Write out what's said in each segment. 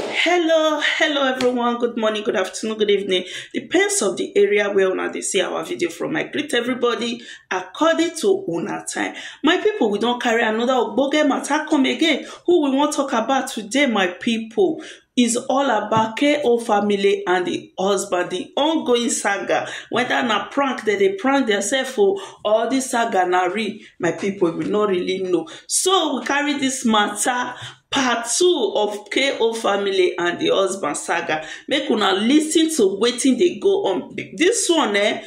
hello hello everyone good morning good afternoon good evening depends of the area where una dey see our video from i greet everybody according to una time my people we don carry another ogboge matter come again who we wan talk about today my people is all about KO family and the husband, the ongoing saga. Whether na prank that they prank themselves for all this saga na real, my people will not really know. So we carry this matter part two of KO family and the husband saga. Make una listen to wetin dey go on. This one eh,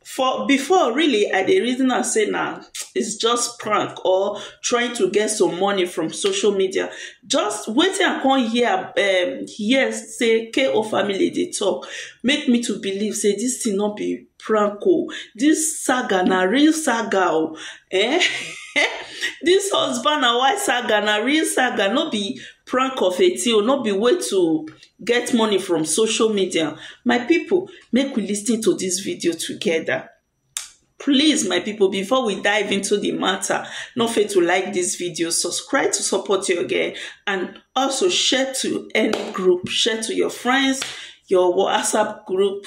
for before really I dey reason am say na it's just prank or trying to get some money from social media. Just wetin I come hear um, hear say KO family dey talk make me to believe say this thing no be prank o this saga na real saga o eh this husband and wife saga na real saga no be prank of a thing o no be way to get money from social media my people make we lis ten to this video together please my people before we dive into the matter no fail to like this video subscribe to support your girl and also share to any group share to your friends your whatsapp group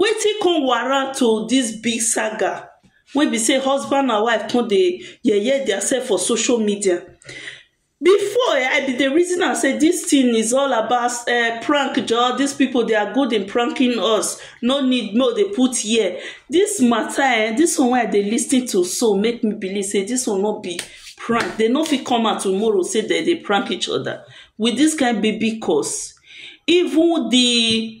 Wetin come warrant o dis big saga wey be sey husband and wife come dey yeye dia sef for social media before um I be dey reason am sey dis tin is all about um prank jor dis pipu dey are good in pranking us no need make we dey put ear dis mata um dis one wey I dey lis ten to so make me believe sey dis one no be prank dey no fit come out tomorrow sey dem dey prank each oda wit dis kind baby cos even di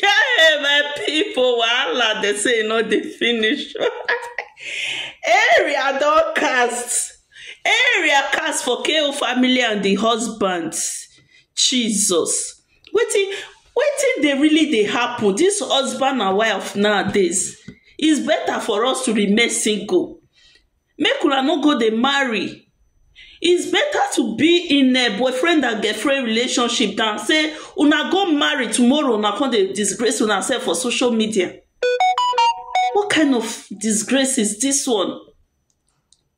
Hey, my people, wahala, they say e no dey finish. Area don cast. Area cast for KO family and the husband. Jesus. Wetin wetin dey really dey happen? This husband and wife nowadays, it's better for us to remain single. make una no go dey marry is better to be in a boyfriend and girlfriend relationship than say una go marry tomorrow una come dey disgrace una sef for social media what kind of disgrace is this one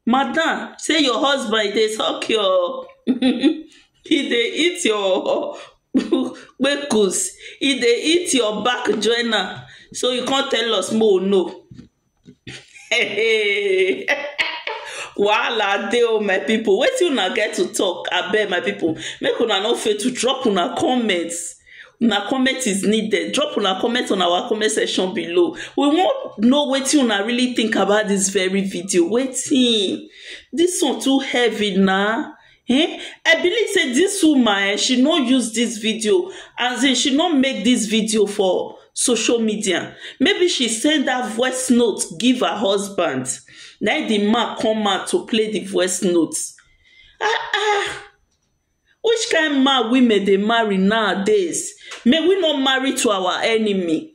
madam say your husband dey suck your he dey eat your kpekus he dey eat your back join am so you come tell us make we know Hey. wahala dey o my people. wetin una get to talk abeg my people. make una no fail to drop una comment una comment is needed drop una comment on our comment section below we wan know wetin una really think about this very video wetin this one too heavy na um I believe sey dis woman um she no use dis video as in she no make dis video for social media maybe she send dat voice note give her husband na im di man come out to play di voice note um um which kind man women dey marry nowadays may we no marry to our enemy.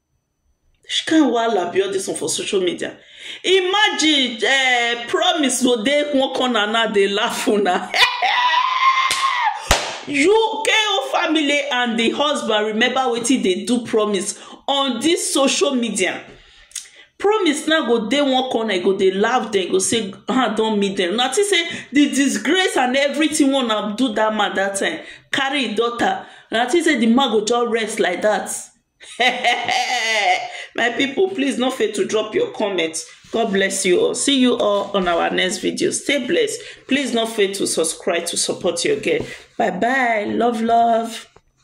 Which kind wahala be all this one for social media? Imagine uh, promise go dey one corner now dey laugh una. you KO family and the husband remember wetin dey do promise on this social media. Promise now go dey one corner, e go dey laugh dem, go say, ah, don meet dem. Una think say the disgrace and everything wey una do that man that time carry im daughter. Una think say the man go just rest like that. my people please no fail to drop your comments god bless you all see you all on our next video stay blessed please no fail to subscribe to support your girl bye bye love love